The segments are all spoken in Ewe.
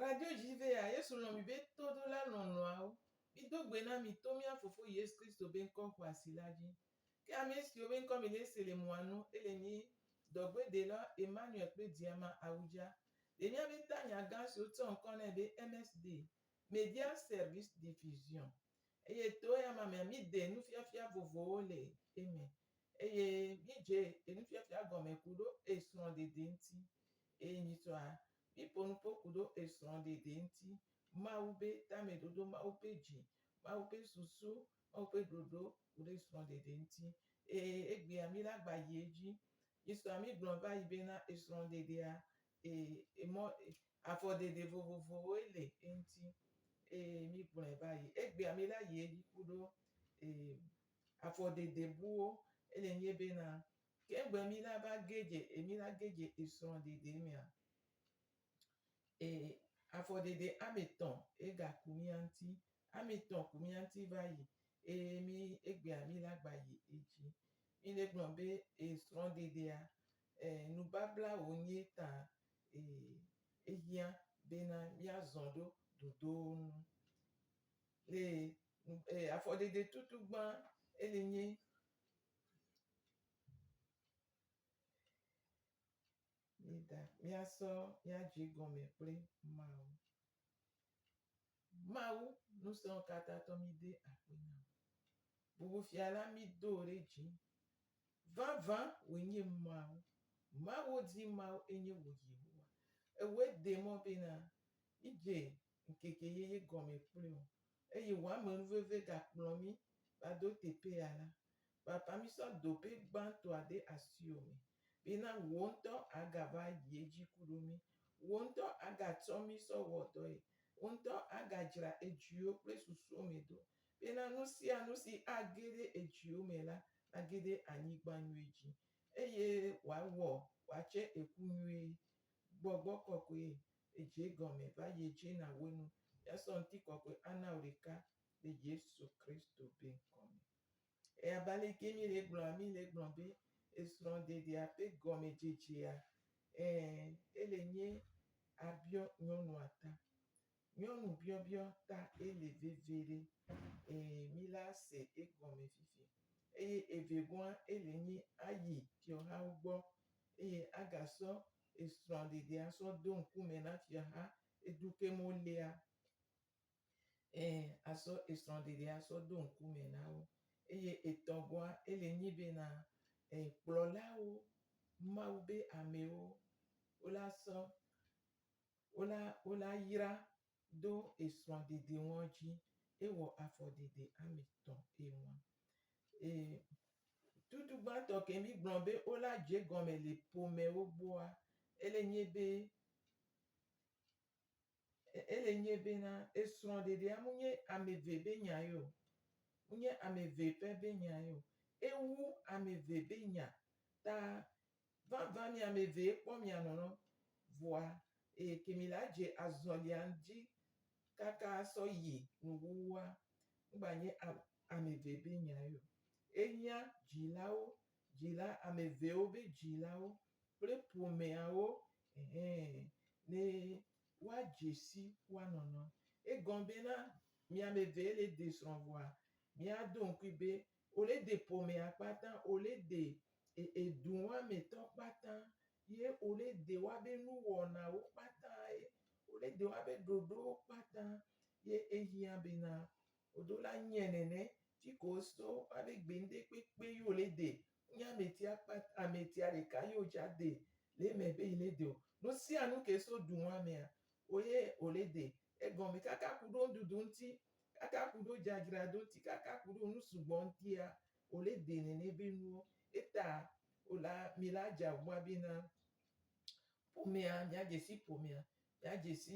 Radjo dzi be ya Yesu lɔ̃ mi be todola lɔlɔ̃awo. Mido gbe na mi to mía Fofo Yesu Kristo be ŋkɔ xɔasi la dzi. Ke ame siwo be ŋkɔ mile se le mɔa nu ele nyi dɔgbedela Emmanuel kple Diama Awudja. Le míabe tanya gã si wotsɔ ŋkɔ nɛ be MSD, Media Service Diffusion, eye to eyama mea míde nufiafia vovovowo le eme eye mídze enufiafia gɔme kuɖo esrɔ̃ɖeɖe ŋuti eye nyitsɔ Miƒo nu ƒo ku ɖo esrɔ̃ ɖeɖe ŋuti, Mawu be tameɖoɖo, Mawu ƒe dzi, Mawu ƒe susu, Mawu ƒe ɖoɖo ku ɖe esrɔ̃ ɖeɖe ŋuti. Ee, egbea mi la gba yi edzi. Misɔ ami gblɔ va yi be na esrɔ̃ ɖeɖea, ee, emɔ, afɔ ɖeɖe vovovowoe le eŋuti. Ee, mi gblɔe va yi. Egbea mi la yi edzi ku ɖo, ee, afɔ ɖeɖe buwo. Ele nye be na Ke gbe mi la va gedze e mi la gedze e srɔ̃ ɖeɖe mea e afɔ ɖeɖe ame tɔ e ga ku mia ŋti ame tɔ ku mia ŋti va yi e mi egbea mi la gba yi edzi. Mi ne gblɔ be e srɔ̃ ɖeɖea e nu babla wo nye ta e ehiã be na mia zɔ ɖo ɖoɖowo nu. Le e afɔ ɖeɖe tutu gbã e le nye Mida míasɔ mía dzi gɔme kple Mawu. Mawu Ŋusẽkatãtɔ mide akpe na wò. Bubu Fia la, mído wò ɖe dzi. Vavã wòe nye Mawu. Mawo dzi Mawu enye wò Yehowa. Ewɔe de mɔ bena mídze ŋkeke yeye gɔme kplii o, eye wò amenuveve gakplɔ mí va do teƒe ya la, vava mísɔ dopɛ gbãtɔa de asiwò me, bena wò ŋutɔ àgava yi edzi ku ɖo mí, wò ŋutɔ àgatsɔ mí sɔ wɔ dɔe, wò ŋutɔ àgadzra edziwò kple susuwo me do, bena nu sia nu si age ɖe edziwò me la nage ɖe anyigba nyui dzi, eye wòawɔ wòatse eku nyuie. Gbɔgbɔ kɔkɔe edze gɔme va yedze na wo nu yasɔ ŋtikɔkɔe ana wo ɖeka le Yesu Kristo be ŋkɔ me. Eya ba leke mi le gblɔ ami le gblɔ be esrɔ̃ɖeɖea ƒe gɔme dzedzea? Ɛ̃, ele nye abiɔ nyɔnua ta. Nyɔnu biɔbiɔ ta Eli veviɖe. Ẽ, míle ase egɔme fifi. Eye evegɔa, Eli nyi ayi fiɔhawo gbɔ, eye agasɔ esrɔ̃ɖeɖe asɔ do ŋkume na fiɔha edu ke mɔ lea. Ẽ, asɔ esrɔ̃ɖeɖe asɔ do ŋkume na wo. Eye etɔgɔa, Eli nyi bena, ẽ, kplɔlawo, Mawu be amewo, wole asɔ wola wola yra do esrɔ̃ dede ŋɔ dzi ewɔ afɔ dede ame tɔ eŋɔ e tutu gbãtɔ ke mi gblɔ be wola dze gɔme le ƒomewo gbɔa ele nye be ele nye be na esrɔ̃ dedea mu nye ame ve be nya yo mu nye ame ve pɛ be nya yo ewu ame ve be nya ta Vavã miamevee kpɔ mianɔnɔ vɔa eye ke mi la dze azɔlia dji kakaa sɔ yi nu wuwua ŋgba nye amevee be nyae o. Enyia djilawo, djila ameveewo be djilawo kple ƒomeawo ɛhɛ ne woa djesi woa nɔnɔ. Egɔn bena miamevee le desrɔ̃ vɔa mia do ŋkui be Ole de pomea kpata, ole de eduɔame tɔ kpata, ye ole de woabe nuwɔnawo kpata, ye ole de woabe ɖoɖowo kpata. Ye ehiã bena wodo la nye nene tsi ko woso woabe gbe ŋde kpekpe yi ole de. Nye ametia kpata, ametia ɖeka yi wodza de le eme be yi ne de o. Nusianu ke so duɔamea, woye ole de egɔme kaka kuɖo ŋɖuɖu ŋti Kaka ku ɖo dzadzra do ŋti kaka ku ɖo nu sugbɔ ŋtia o le de nɛnɛ be nuwo. Eta o la mi la dza ŋua be na ƒomea mia dzesi ƒomea, mia dzesi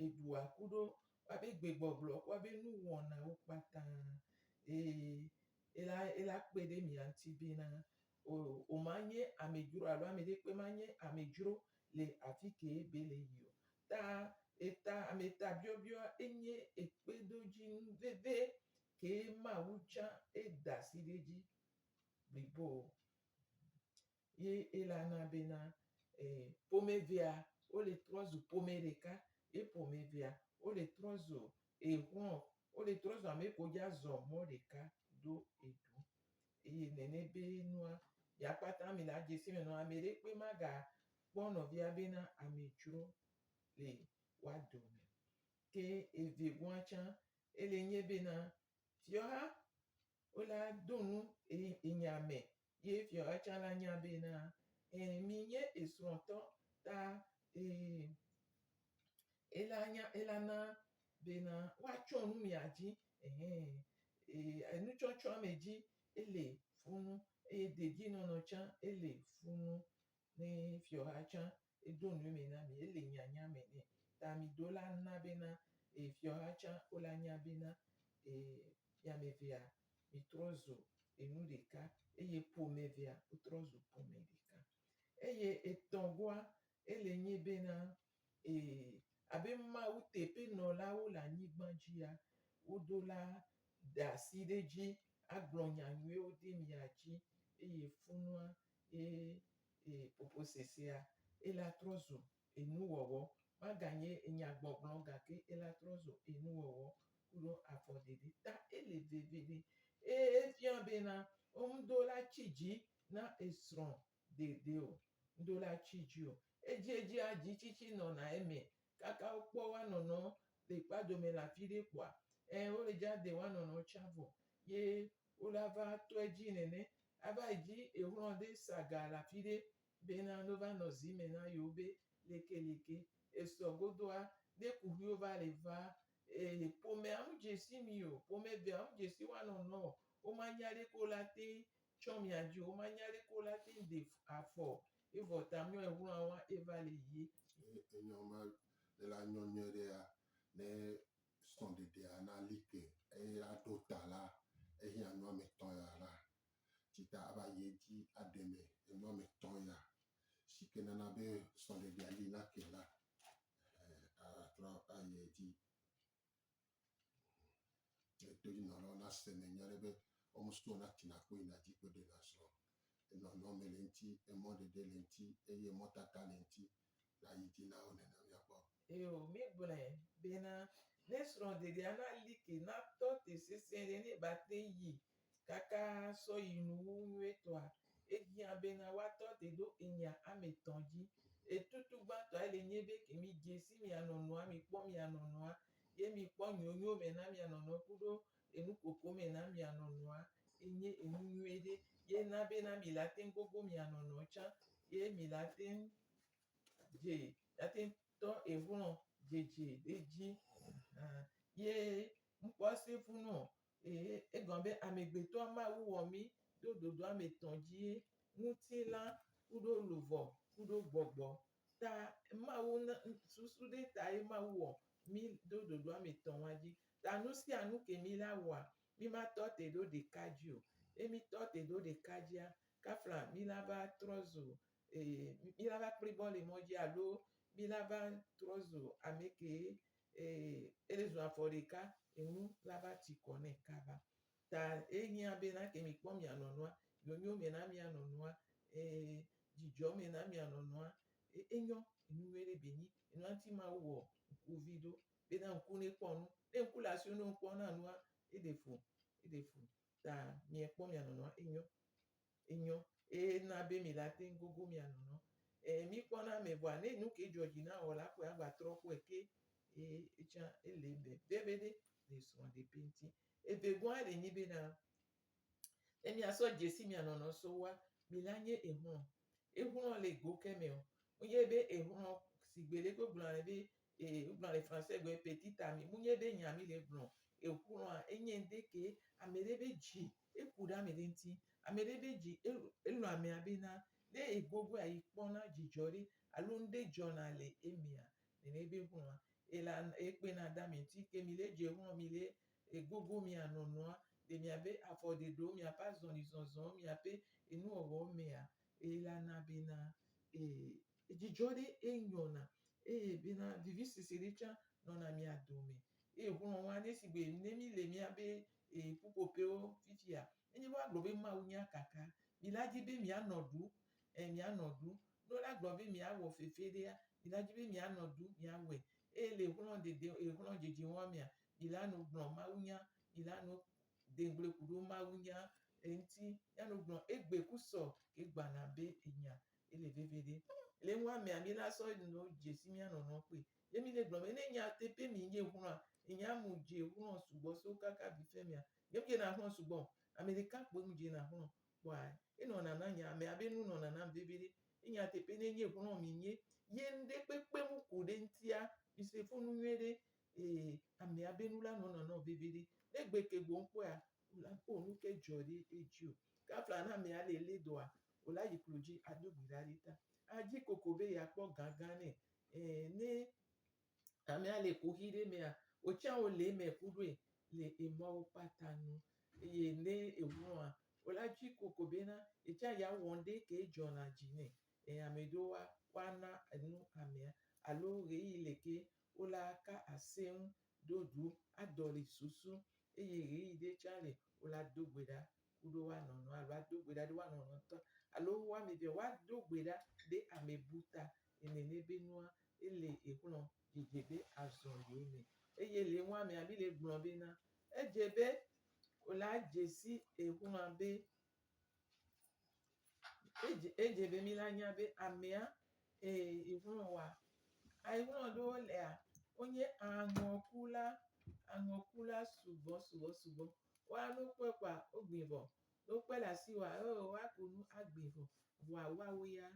eɖua ku ɖo wa be gbe gbɔgblɔ kua be nu wɔnawo kpata e ela ela kpe ɖe mia ŋti be na O, o ma nye amedzro alo ame ɖe kpe ma nye amedzro le afi kee be le yi o. Ta eta ame ta biɔbiɔa enye ekpedodzinu veve kee Mawu tsã eda asi ɖe edzi blibo ye ela na bena e, ƒomevea wo le trɔ zu ƒome ɖeka ye ƒomevea wo le trɔ zu exlɔ, wo le trɔ zu ame ko dza zɔ mɔ ɖeka ɖo eɖu. Eye nene be nua ya kpata mi na djesi me nɔ ame ɖe kpe ma ga kpɔ nɔvia be na ame djro le wa dome. Ke eve gua tsa ele nye be na fiɔha wo la do nu enya me ye fiɔha tsa la nya be na e mi nye esrɔtɔ ta e. ela nya ela na bena woatsɔ nu mia dzi ehe eye enutsɔtsɔa me dzi ele funu eye dedienɔnɔ tsã ele funu ne fiɔha tsã edo nu eme na mi ele nyanya me nɛ ta mi do la na bena e fiɔha tsã wo la nya bena e miamevea mi trɔ zu enu ɖeka eye ƒomevea wo trɔ zu ƒome ɖeka eye etɔgoa Ele nyi bena, ee, abe Mawu teƒenɔlawo le anyigba dzia, woɖo la ɖe asi ɖe edzi agblɔ nya nyuiwo ɖe mia dzi eye funua ye ee ƒoƒosesea eye latrɔ zu enuwɔwɔ. Maganye enyagbɔgblɔ o gake elatrɔ zu enuwɔwɔ kple afɔɖeɖe ta ele vevie. Eye efia bena, womeɖo la tsi dzi na esrɔ̃ dede o, ŋɖo la tui dzi o. Edziedzia dzi tsitsi nɔna eme kaka wokpɔ wanɔnɔ le kpadome le afi ɖe kpoa, ẽ, wole dza de wanɔnɔ tsã vɔ ye wola va tɔ edzi nene. Ava yi dzi exlɔ ɖe sa ga le afi ɖe bena no va nɔ zi me na yewo be lekeleke esɔ godoa, ne kuxiwo va le va e, ƒomea ŋu dzesi mi o, ƒomevea ŋu dzesi wanɔnɔ o, woma nya ɖeke o la teŋ Tsɔ mia dzi woma nyali ko la ti de afɔ evɔ ta mɔ ehwlɔn wa eva le yie. Enyɔ ma le la nyɔ nyɔɛ ɖe ya ne sɔ ɖeɖe a na li ke eye a ɖo ta la ehi a nyɔ ame tɔ ya la tsi ta a va yi edzi a ɖe me enyɔ ame tɔ ya si ke nana be sɔ ɖeɖe a li na ke la a trɔ a yi edzi. Edodinɔlawo na se me nya ɖe be wɔme sugbɔ na tina kpo yina dzi kpo ɖe na srɔ̃. Enɔ nɔ me le ŋuti, emɔ ɖeɖe le ŋuti eye emɔ tata le ŋuti na yi dzi na wo nena mía gbɔ. Eo, mí gblɔe bena ne srɔ̃ ɖeɖea na like na tɔ te sesẽ ɖe ne ba te yi kaka sɔ yi nu wu nyuietɔa, ehiã bena woatɔ te ɖo enyia ame tɔ̃ dzi. Etutu gbãtɔae le nye be ke mi dze si mia nɔnɔa, mi kpɔ mia nɔnɔa, ye mi kpɔ nyonyo me na mia nɔnɔa kuɖo enu koko me na mia nɔnɔa, ye nye enu nyuie ɖe, ye na bena mi la teŋ gogo mia nɔnɔa tsã, ye mi la teŋ dze, la teŋ tɔ ehlɔ̃ dzedze ɖe dzi. Hã, ye ŋkpɔ se fu nɔ Ee, egɔme be amegbetɔa ma wu wɔ mí do ɖoɖoa me tɔn dzi ye ŋutilã kuɖo luvɔ kuɖo gbɔgbɔ ta Mawu na susu ɖe ta ye Mawu wɔ mí do ɖoɖoa me tɔn wa dzi. Ta nu sia nu ke mí la wɔa, mí ma tɔ te ɖo ɖeka dzi o. Ne mí tɔ te ɖo ɖeka dzia, kafla mí la va trɔ zu, ee, mí la va kpli bɔ le mɔ dzi alo mí la va trɔ zu ame ke Eye ezu afɔ ɖeka, enu la va tsi kɔ nɛ kaba. Ta ehiã be na ke mikpɔ mia nɔnɔa, nyonyo me na mia nɔnɔa, ee, dzidzɔ me na mia nɔnɔa. E, enyɔ, enu nyui ɖe be nyi. Enua ŋuti Mawu wɔ ŋku vi ɖo, be na ŋku ne kpɔ nu. Ne ŋku le asiwò ne ŋkpɔ na nua, eɖe fu, eɖe fu. Ta miekpɔ mia nɔnɔa, enyɔ. enyɔ eye na be mi la teŋ gogo mia nɔnɔ. E mi kpɔ na me vɔa ne nuke dzɔ dzi na wɔ la kpɔe agba trɔ kpɔe ke e etsã ele be be be ɖe le srɔ̃ ɖe be ŋti. Eve gɔa ɖe nyi be na ne mia sɔ dzesi mia nɔnɔ so woa mi la nye ehlɔ. Ehlɔ le go ke me o. Mu nye be ehlɔ si gbe ɖe ko gblɔ na be e gblɔ le français gbe petite ami mu nye be nya mi le gblɔ ehlɔa enye ŋde ke ame ɖe be dzi Eku ɖe amɛɖe ŋti, amɛɖe ɖe dzi elɔ amɛa be na ne egbɔgbɔa yi kpɔna dzidzɔ ɖe alo ŋɖe dzɔna le emɛa, nɛnɛ ebe hlɔa ela ekpena ɖe amɛ ŋti. Ke mi le dze hlɔ mi le egbogbo mia nɔnɔa le miabe afɔ ɖeɖewo, miaƒe azɔli zɔzɔwo, miaƒe enuwɔwɔwo mɛa, ela na be na edzidzɔ ɖe enyɔna eye be na vivisese ɖe tsa nɔna mia dome. Eye hlɔwɔa ɖe sigbe ne mi le miabe e, ƒuƒoƒewo fifia. Nenye be woagblɔ be Mawu nya kaka, mi la di be mianɔ ɖu, e, mianɔ ɖu. Ne wole agblɔ be miawɔ fefe ɖea, mi la di be mianɔ ɖu, miawɔe. Eye le xlɔ̃ dede, e, xlɔ̃ dzedze wɔa mea, mi la no gblɔ Mawu nya, mi la no de ŋugble ku ɖo Mawu nya eŋuti. Mi la no gblɔ egbe ku sɔ ke gbana be enya. Ele veve ɖe. Le nua mea, mi la sɔ no dzesi mia nɔnɔ kpɔe. Ye mi ne gblɔ be ne nye ate pe mi nye ŋlɔa enye amu dje ŋlɔ sugbɔ so kaka vi fe mea nye dje na ŋlɔ sugbɔ o ame ɖeka kpoe mu dje na ŋlɔ kpɔa e nɔ nana nye amea be nu nɔ nanam veviɖe ye nye ate pe ne nye ŋlɔ mi nye ye ŋɖe kpekpe mu ku ɖe ŋtia mi se fo nu nyuie ɖe e amea be nu la nɔ nanɔ veviɖe ne gbe ke gbo ŋkpɔea o la o nu ke djɔ ɖe edji o ke afla na amea le le dɔa o la yi klo dji a do gbi ɖa ɖe ta a dji koko be ya kpɔ gã gã nɛ eh, ne amea le kuxi ɖe mea, wotsã wòle eme ku ɖoe le emɔwo kpata nu. Eye ne eŋlɔa, wòla tsi ku ko bena yetsã yeawɔ ŋɖe ke dzɔna dzi nɛ. Eh, ame ɖewo wa, woana enu amea, alo ɣeyiɣi le ke wola ka ase ŋu ɖo ɖu adɔli susu, eye ɣeyiɣi ɖe tsã le wola do gbe ɖa ku ɖo woanɔ nɔa alo ado gbe ɖa ɖe woanɔ nɔ ŋutɔ alo wo ame evea woado gbe ɖa ɖe ame bu ta ene nɛ be nua ele exlɔ dzedze be azɔ le wo me eye le nua mea mi le gblɔ be na edze be wòle adze si exlɔa be edze edze be mi la nya be amea ee exlɔ wa exlɔ ɖewo lea wonye aŋɔkula aŋɔkula sugbɔ sugbɔ sugbɔ. Woa nu kpɔe kpɔa, wogbui vɔ. Ne wokpɔe le asi wòa, ee, woaku nu agbui vɔ. Vɔa woawo ya,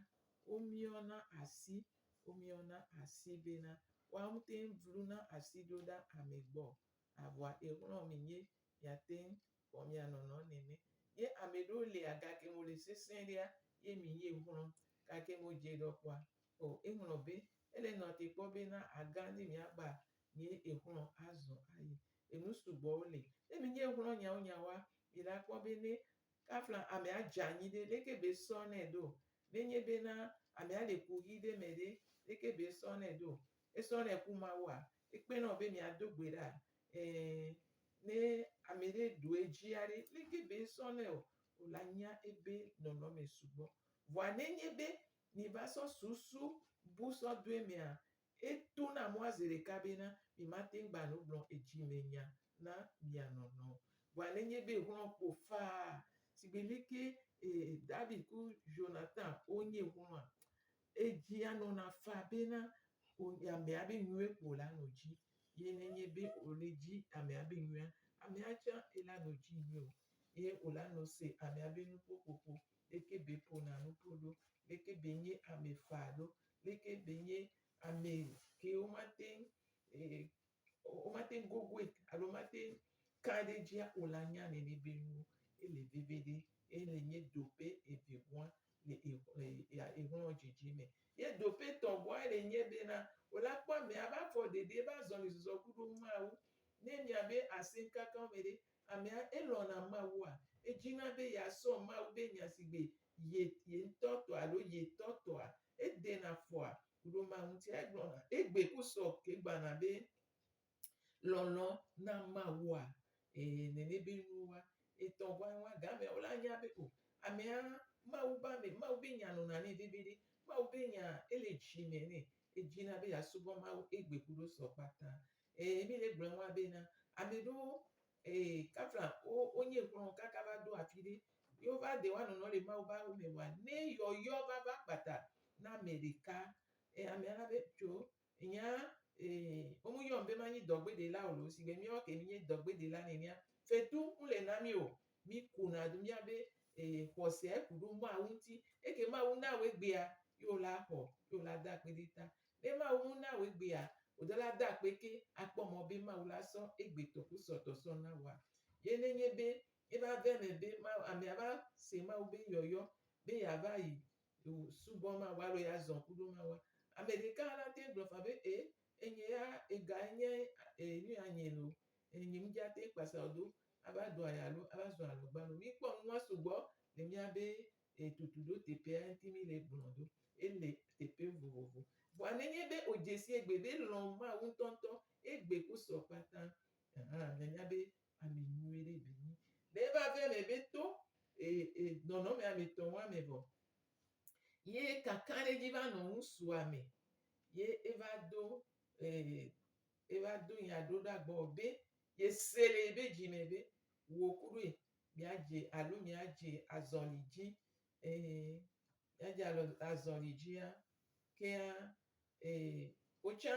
womiɔna asi, womiɔna asi bena, woawo ŋutɔe vluna asi ɖo ɖa ame gbɔ o. A vɔa exlɔ̃ mi ye miate ŋu wɔ mia nɔnɔ nene. Ye ame ɖewo lia gake mo le sesẽ ɖea, ye mi ye xlɔ̃. Gake mo dze ɖɔ kpɔa, o, eŋlɔ̃ be, ele nɔ te kpɔ bena agã ne miagba nyee exlɔ̃ azɔ ayi. Enu sugbɔwo li. Ne menye exlɔ̃ nyawo nyawoa, mi la kpɔ be ne kafla amea dze anyi ɖe, leke be esɔ nɛ ɖo? Nenye be na amea le ku ʋi ɖe me ɖe, leke be esɔ nɛ ɖo? Esɔ nɛ ku Mawua? Ekpena wò be miado gbe ɖa? Ẽ, ne ame ɖe ɖu edzia ɖe, leke be esɔ nɛ o? O la nya ebe nɔnɔme sugbɔ. Vɔa nenye be mi va sɔ susu bu sɔ do emea, Eto na mɔa zeɖeka bena mimate ŋu gba nu gblɔ edzimenya na mia nɔnɔ o. Vɔa nenye be ŋlɔ kpo faa sigbe lé ke David ku Jonathan wonye ŋlɔa, edzia nɔna faa bena wonye amea be nyuie kpo la no dzi. Ye nenye be wole dzi amea be nyuia, amea tsã ela no dzi nyuie o, ye wola no se amea be nuƒoƒoƒo, leke be ƒona nuƒo ɖo, leke be nye ame faa ɖo, leke ɖenye ame ke womate ŋu e, womate ŋu gogoe alo womate ŋu ka ɖe edzia o la nya nene be nuwo ele veve ɖe ele nye doƒe evegoa le exlɔ dzidzi me. Ye doƒe tɔgoa ele nye be na wòla kpɔ amea ƒe afɔ ɖeɖe ƒe azɔlizɔzɔ kuɖo ŋu Mawu. Ne miabe asẽkankanwo me ɖe amea elɔ̃na Mawua? Edzina be yeasrɔ̃ Mawu ƒe nya si gbe Ye, ye ŋutɔ tɔa alo ye tɔ tɔa? Edena fɔa ku ɖe ema ŋuti. Egblɔna, egbe ku sɔ ke gbana be, Lɔlɔ na Mawua, e, nene be nuwo wa etɔ ŋua ŋu wa. Gamea wo la nya be o, amea Mawu be ame, Mawu be nya nɔna nɛ veviɖe. Mawu be nyaa, ele dzi me nɛ. Edina be ya subɔ Mawu egbe ku ɖe sɔ kpata. Ee, mi he gblɔe wa bena, ame ɖewo, ee, kafla wo, wo nye xlɔ̃ kaka va ɖo afi ɖe, ye wo va de wa nɔnɔ le Mawu be awo me wa ne yɔyɔ va va kpata na ame ɖeka. Ee, amea na be, tso, nya, ee, wo mu yɔm be ma nyi dɔgbe ɖela o loo, sigbe miawo ke mi nye dɔgbe ɖela nɛnɛa, fetu mu le na mi o. Mi ku na do mia be, ee, xɔsea ku ɖo Mawu ŋuti. Eke Mawu na wo egbea, ye wo la xɔ, ye wo la da akpe ɖe ta. Ne Mawu ŋu na wò egbea, wò dɔla da akpe ke akpɔ mɔ be Mawu la sɔ egbe tɔ kusɔtɔ sɔ na wòa? Ye ne nye be eva ve eme be Mawu, amea va se Mawu be yɔyɔ be yeava yi o subɔ Mawu alo ya zɔ̃ kuɖo Mawua, ame ɖeka hã la teŋ gblɔ faa be e, enye ya ega enye e nu ya nye lo, e nye ŋdzi ate kpasa o do ava do aya alo ava zɔ̃ alɔgbalo. Mikpɔ nua sugbɔ le mía be E tutu ɖo teƒea ŋti mi le gblɔ do e le teƒe vovovo. Vɔa ne nye be o dzesi egbe be lɔ Mawu ŋtɔ ŋtɔ egbe ku sɔ kpata hã ne nya be ame nyuie ɖe be nyi. Ne va ve me be to e e nɔnɔme ame tɔ ŋua me vɔ ye kaka ɖe dzi va nɔ ŋusua me ye e va do e e va do nya ɖo ɖa gbɔ be ye se le ebe dzi me be wo kuɖoe Míadze alo míadze azɔli dzi. Ɛɛ, míadze alo azɔli dzia, kea, ɛɛ, wotsã,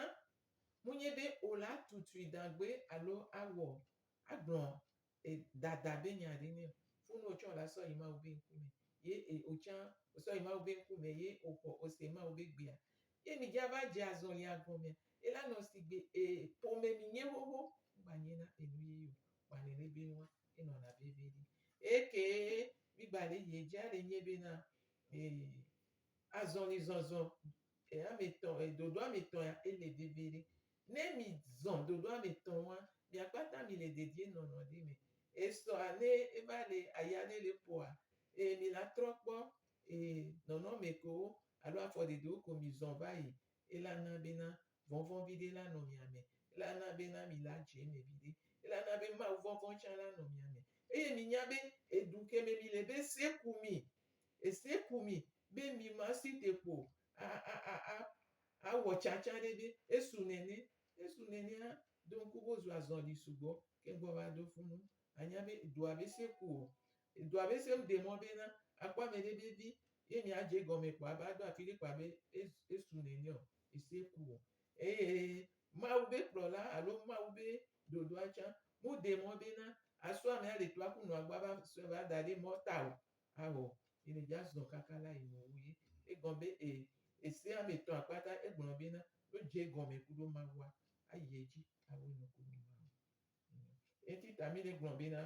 munye be wòle atutui dagbe alo awɔ, agblɔ e, dada be nya ɖe nɛ o. Funu wotsã wòle asɔ yi Mawu be ŋkume. Ye e, wotsã wòsɔ yi Mawu be ŋkume ye wòxɔ, wòse Mawu be gbea. Ye mìdze ava dze azɔlia gɔmea, elanɔ sigbe e, ƒome mìnye xoxo. Wogbanye na enu ye ye o, gbalẽlebɛ nua. enɔna vevi ɖi. Eye ke migba le yie dzia le nye be na azɔli zɔzɔ ame tɔ ɖoɖo ame tɔ ya ele vevi ɖi. Ne mi zɔ ɖoɖo ame tɔ wa mia kpata mi le dedie nɔnɔ ɖi me. Esɔ ne eva le aya ne le ƒoa e mi la trɔ kpɔ e nɔnɔ me kewo alo afɔ ɖeɖewo ko mi zɔ va yi. Ela na be na Vɔvɔ̃ viɖe la nɔ mia me, eye ana be na mi la dze eme viɖe, eye ana be Mawu vɔvɔ̃ tsã la nɔ mia me. Eye minya be edu ke me mile be ese ku mi, ese ku mi be mi masi te kpo a, a, a, a, awɔ tsãtsã ɖe be esu nene, esu nenea, do ŋku be wozua zɔli sugbɔ keŋ gbɔ va ɖo fu nu. Anya be edua bese ku o. Edua bese wu de mɔ be na akpɔ amɛɖe be vi ye mi a dje egɔme kpɔ a va ɖo afiɖe kpɔ abe esu nɛnɛ ɔ, ese ku o. Eye Mawu be kplɔla alo Mawu be ɖoɖoa tsa mu de mɔ be na asu amɛ a le toa ku nu a gbɔ a va sɔɛ va da ɖe mɔ ta o. Ao, yi ne dja zɔn kaka la yi nu wu ye. Egɔn be e, ese amɛ etɔn a kpata egblɔ be na, ɖo dje egɔme kuɖo Mawua, a yi edji a we nuku nɔ Mawu. Eti ta mi ɖe gblɔ be na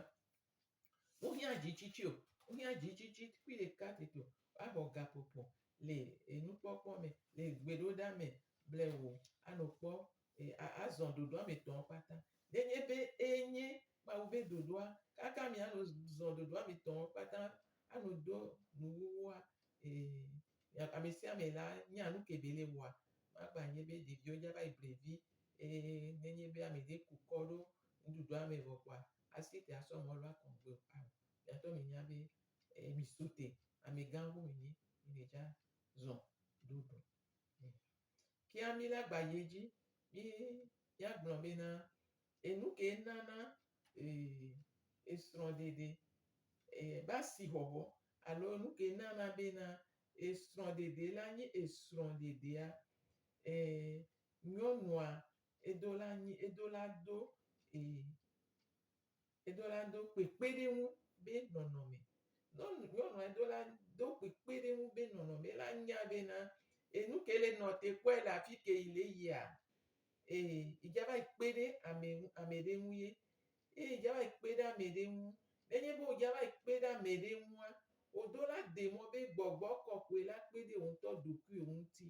wo hia dzi tsitsi o, wo hia dzi tsitsi kpui ɖeka tete o, wa bɔ ga ƒoƒo le enu kpɔkpɔ me, le gbe ɖo ɖa me ble wo a nɔ kpɔ a zɔn ɖoɖo a me tɔn kpata. Ne nye be eye nye Mawu be ɖoɖoa, kaka mi a nɔ zɔn ɖoɖo a me tɔn kpata a nɔ do nuwuwua, Ee, amesiame la nya nuke bele wɔa, magba nye be ɖeviwo dza va yi ble vi, eye nenye be ameɖe ku kɔ ɖo nuɖuɖua me vɔ kpoa, asi te asɔ mɔlu akɔ ŋgbe o. Ao, miatɔ minya be mi so te, amegã ŋu mi nyi, mi me dza zɔ ɖo ɖo. Kea mi la gba yi edzi, mi ya gblɔ be na. Enu kee nana esrɔ̃ɖeɖe va si xɔxɔ alo enu kee nana bena esrɔ̃ɖeɖe la nye esrɔ̃ɖeɖea? Nyɔnua edo la nyi edo la do edo la do kpekpeɖeŋu be nɔnɔme. Nyɔnu nyɔnua edo la do kpekpeɖeŋu be nɔnɔme ela nya bena enu ke le nɔ te kpɔe le afi ke yi le yia Ee, edza va yi kpe ɖe ame ŋu, ame ɖe ŋu ye. Ee, edza va yi kpe ɖe ame ɖe ŋu. Nenye be wòdza va yi kpe ɖe ame ɖe ŋua, wò dola de mɔ be gbɔgbɔ kɔkɔe la kpe ɖe wò ŋutɔ ɖokuiwò ŋuti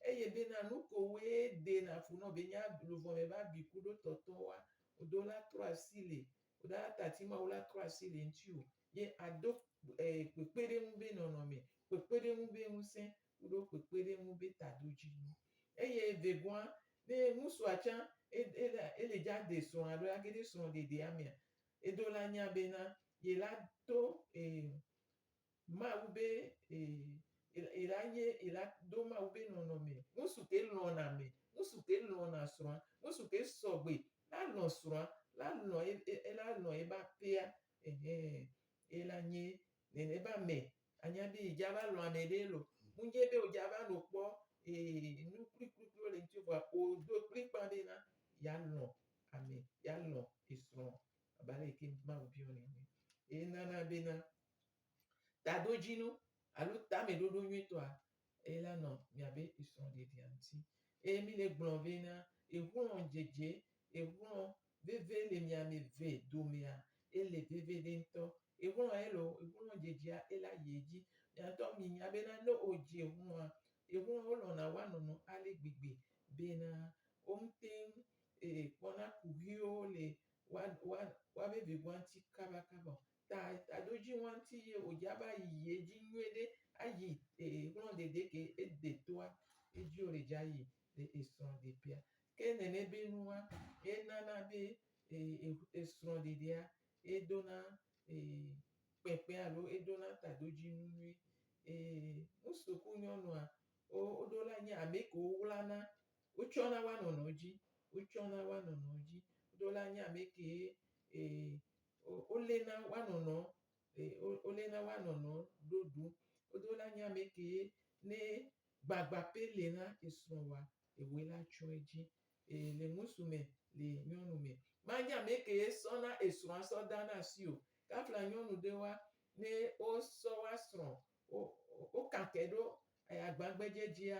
eye bena nu ko wòe dena fu nɔ be nye ab, luʋɔ me ƒe abi ku ɖo tɔtɔ wa. Wò dola trɔ asi le, wò dola tati Mawu la trɔ asi le ŋutiwò ye ado, ee, kpekpeɖeŋu ƒe nɔnɔme, kpekpeɖeŋu ƒe ŋusẽ, kuɖo kpekpeɖeŋu be tadodzinu. Eye vegɔa, ne ŋusua tsã ele dza de srɔ̃a ɖo age ɖe srɔ̃ɖeɖea mea, eɖo le anya bena yela do Mawu be yela nye yela do Mawu be nɔnɔme. Ŋusu ke lɔ̃na ame, ŋusu ke lɔ̃na srɔ̃a, ŋusu ke sɔgbe la lɔ̃ srɔ̃a, la lɔ̃ ela lɔ̃ eƒe aƒea, ehe, yela nye nene ƒe ame Anya be dza va lɔn ame ɖe lo. Mu dze be wodza va no kpɔ ee nu kplikplikpli wole ŋuti vɔa odo kplikpan be na ya lɔn ame, ya lɔn esrɔ̃ abe ale yike Mawu biɔ nɛ ene. Ye nana be na tadodzinu alo tameɖoɖo nyuitɔa eye la nɔ miabe srɔ̃ɖeɖia ŋuti. Eye mi le gblɔm vɛ na exlɔ dzedze, exlɔ veve le mia me ve domea, ele veve ɖe ŋutɔ. Exlɔ ya ele o, exlɔ dzedzea ele ayi edzi. Mia ŋutɔ mi nya be na ne o dzi exlɔa, exlɔ wo lɔna wa nɔnɔ ale gbegbe be na wo ŋutɛ kpɔna kuxiwo le wa, wa, wa veve ŋua ŋuti kaba kaba o. ta taɖo dzi ŋuti ye wòdze abe ayi edzi nyuie ɖe ayi ee ŋlɔ ɖeɖe ke ede toa edzi wòle dze ayi le esrɔ̃ɖeƒea. Ke nene be nua enana be ee e esrɔ̃ɖeɖea edona ee kpekpe alo edona taɖodzinu nyuie. Ee nu suku nyɔnua wo woɖo la nye ame ke wowlana wotsɔna woa nɔnɔewo dzi wotsɔna woa nɔnɔewo dzi. Woɖo la nye ame kee ee. woléna woanɔnɔ woléna woanɔnɔ ɖo ɖu wodo la nya me kee ne gbagba pɛ le na esrɔ wa ewoe la tsɔ edzi ee le ŋusu me le nyɔnu me manya me kee sɔ na esrɔa sɔ da na asi o kafla nyɔnu ɖe wa ne wosɔ wa srɔ wo wo kake ɖo agbagbedze dzia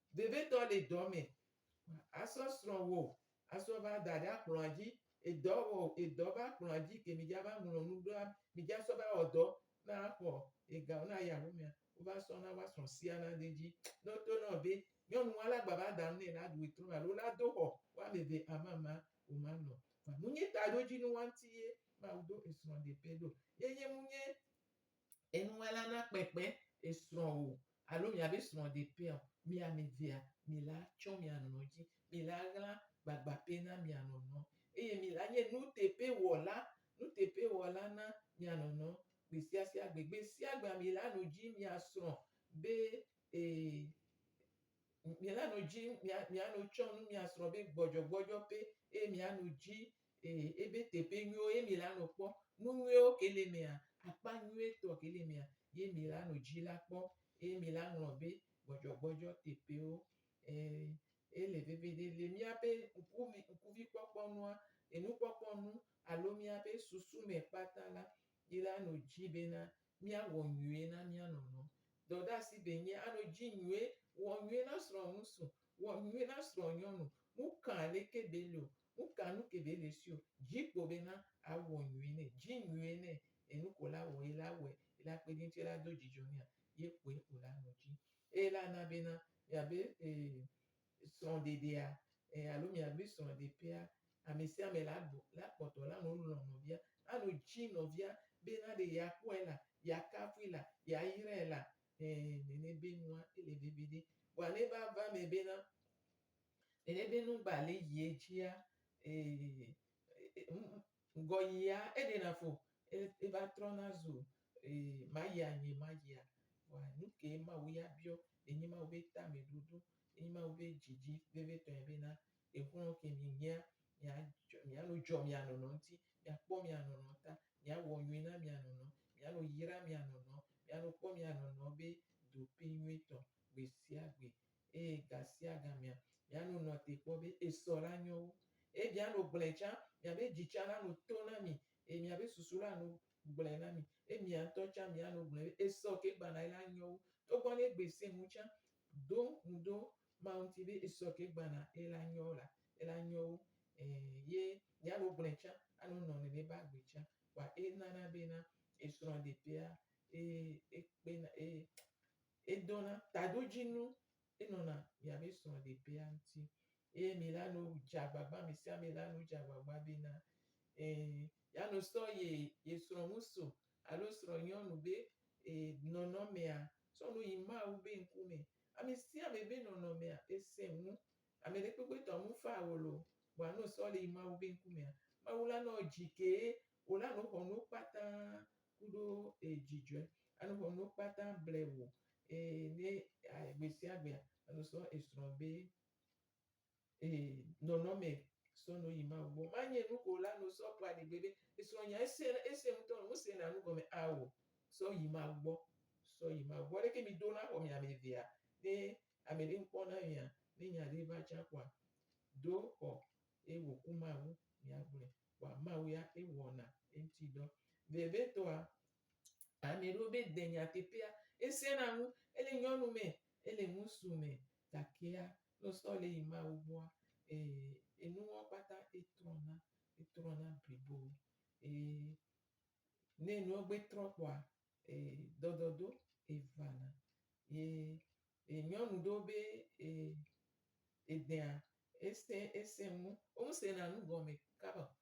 Vevitɔ le dɔ me asɔ srɔ̃ wò asɔ va da ɖe akplɔa dzi. Edɔ wɔ edɔ va kplɔa dzi ke mi dza va ŋlɔ nu ɖoa mi dza sɔ va wɔ dɔ na xɔ ega na ya ƒe mea wo va sɔ na wa srɔ̃ sia na de dzi. Ne wo to na wò be nyɔnu wa la gba va da nu ne la ɖu etrɔ alo la do xɔ wo ame eve amama wo ma nɔ kpa. Munye taɖodzinu wa ŋuti ye Mawu do esrɔ̃ ɖe pɛ ɖo? Ye nye munye Enuŋlɔla na kpekpe esrɔ̃wò alo miabe srɔ̃ɖeƒea o. Mi ame evea, mila tsɔ mia nɔnɔ dzi. Mila ɣla gbagba pɛ na mia nɔnɔ eye mila nye nuteƒewɔla, nuteƒewɔla na mia nɔnɔ gbesiasia gbe. Gbesiagbea mila nu dzi mia srɔ̃ be e, mila nu dzi mia, mia nu tsɔ nu mia srɔ̃ be gbɔdzɔgbɔdzɔ pɛ eye mia nu dzi E, ebe teƒe nyuiwo ye mi la nɔ kpɔ, nu nyuiwo ke le mea, akpa nyuie tɔ ke le mea ye mi la nɔ dzi la kpɔ, eye mi la ŋlɔ be gbɔdzɔgbɔdzɔ teƒewo. E, ele veviɖe le miabe ŋku me, ŋkuvi kpɔkpɔ nua, enu kpɔkpɔ nu alo miabe susu me kpata la, mi la nɔ dzi bena mia wɔ nyuie na mia nɔ nɔ. Dɔɖasi be nye a nɔ dzi nyuie, wɔ nyuie na srɔ̃ ŋusu, wɔ nyuie na srɔ̃ nyɔnu, nu kã aleke be le o, Nu ka nu ke be le sio dzi kpo be na awɔ nyuie nɛ dzi nyuie nɛ enu ko la wɔ ye la wɔ ye la kpe dinte la do dzidzɔ nɛa ye kpoe o la nɔ dzi eye la na be na mia be srɔ ɖeɖea alo mia be srɔ ɖe ƒea ame sia ame la bu la kpɔtɔ la nɔ lɔ nɔvia la nɔ dzi nɔvia be na ɖe ya kpɔe la ya kafui la ya yrae la ɛɛ nene be nua ele vevi ɖe vɔa ne va va me be na Eye ɖe nu gba le yie dzia, ŋgɔ yia eɖena fo eva trɔna zu mayia nye mayia. Vɔa nukɛ Mawu ya biɔ? Enye Mawu be tameɖoɖo, enye Mawu be dzidzi vevitɔe bena exlɔ ke mi nyea, miano dzɔ mia nɔnɔ ŋti, miakpɔ mia nɔnɔ ta, miawɔ nyui na mia nɔnɔ, miano yra mia nɔnɔ, miano kpɔ mia nɔnɔ be ɖoɖoe nyuitɔ gbesiagbe eye gasiagamea mia no nɔa te kpɔ be esɔ la nyɔ wu. Eye mia no gblɔe tsã, mia be dzi tsã la no to na mi, eye mia be susu la no gblɔe na mi, eye mia ŋutɔ tsã mia no gblɔe be esɔ ke gbana yi la nyɔ wu. Togbɔ ne egbe se ŋu tsã, ɖo ŋu ɖo Mawu ŋuti be esɔ ke gbana yi la nyɔ la, yi la nyɔ wu. Ẽ, ye mia no gblɔe tsã alo nɔ nene be agbe tsã. Kpɔa enana be na esrɔ̃ ɖetea, e, ekpena, e. Edona taɖodzinu enɔna mia be srɔ̃ɖeƒea ŋuti eye mi la no dze agbagba, ame sia ame la no dze agbagba be na ee ya no sɔ ye ye srɔ̃ŋusu alo srɔ̃nyɔnu be ee nɔnɔmea sɔ no yi Mawu be ŋkume. Ame sia ame be nɔnɔmea esẽ ŋu. Ame ɖekpekpe tɔ ŋu faa wòlo o. Vɔa no sɔ le yi Mawu be ŋkumea, Mawu la nɔ dzi kee Wò la no xɔnuwo kpata kuɖo e dzidzɔɛ. Anu xɔnuwo kpata ble wò e ne a gbesiagbea enu sɔ esrɔ̃ be e nɔnɔme sɔ no yi Mawu gbɔ. Manye enu ko wò la no sɔ kpɔ aɖigbe be esrɔ̃ nya ese ese ŋutɔ nu se na nu gɔme ao sɔ yi Mawu gbɔ. Sɔ yi Mawu gbɔ. Leke mi do la xɔ mi ame evea? Ne ameɖe ŋkpɔ na mia ne nya ɖe va tsa kpɔa do xɔ eye wòku Mawu miagblɔe kpɔa, Mawu ya ye wɔna eŋuti dɔ. Vevitɔa, amɛ ɖewo mɛ de nyateƒea, esɛ na ŋu, ele nyɔnu mɛ, ele ŋusu mɛ, gakea ne wo sɔ le yi Mawu gbɔa, ee, enuwo kpata etrɔna, etrɔna blibo. Eye ne enuwo gbe trɔ kpɔa, ee, dɔdɔdo evana. Ye E nyɔnu ɖo be e edea ese ese mu omu se na nu gɔme kaba o.